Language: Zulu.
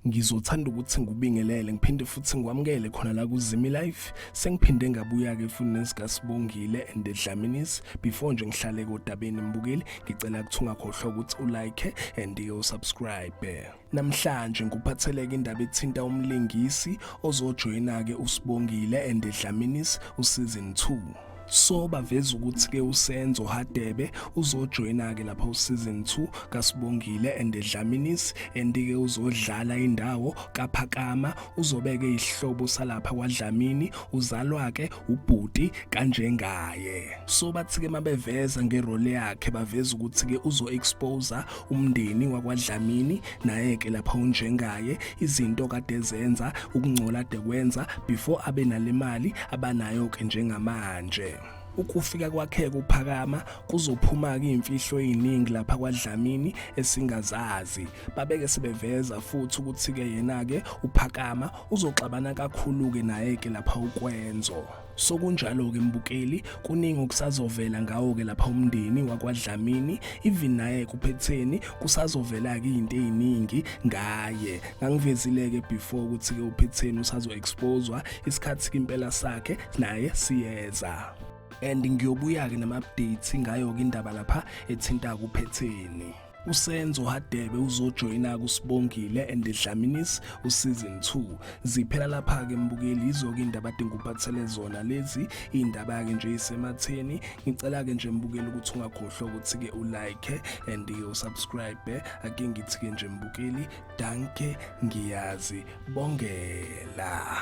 ngizothanda ukuthi ngubingelele ngiphinde futhi ngikwamukele khona la kuzimi life sengiphinde ngabuya ke futhi nesikasibongile and dlaminis before nje ngihlale kodabeni mbukeli ngicela ukuthi ungakhohlwa ukuthi ulike and usubscribe Namhlanje ngikuphatheleke indaba ethinta umlingisi ozojoyina-ke uSibongile and the Dlaminis uSeason 2. So baveza ukuthi-ke uSenzo Hadebe uzojoyina-ke lapha uSeason 2 kaSibongile and the Dlaminis and-ke uzodlala indawo kaPhakama uzobeke isihlobo salapha kwaDlamini uzalwa-ke ubhuti kanjengaye so bathi-ke mabeveza ngerole yakhe baveza ukuthi-ke uzo-exposa umndeni wakwadlamini naye-ke lapha unjengaye izinto kade zenza ukungcola de kwenza before abe nale mali abanayo-ke njengamanje ukufika kwakhe kuphakama kuzophuma-ke iy'mfihlo ey'ningi lapha kwadlamini esingazazi babeke sebeveza futhi ukuthi-ke yena-ke uphakama uzoxabana kakhulu-ke naye-ke lapha ukwenzo sokunjalo-ke mbukeli kuningi okusazovela ngawo-ke lapha umndeni wakwadlamini even naye kuphetheni kusazovela-ke iy'nto ey'ningi ngaye ngangivezile-ke before ukuthi-ke uphetheni usazo-exposwa isikhathi-ke impela sakhe naye siyeza and ngiyobuya-ke nama-updates ngayo-ke indaba lapha ethinta kuphetheni usenzo hadebe uzojoyina kusibongile and dlaminis useason 2 ziphela lapha ke mbukeli yizo-ke indaba adinga uphathele zona lezi iy'ndaba yake nje isematheni ngicela-ke nje mbukeli ukuthi ungakhohlwa ukuthi-ke ulike and usubscribe ake ngithi-ke nje mbukeli danke ngiyazi bongela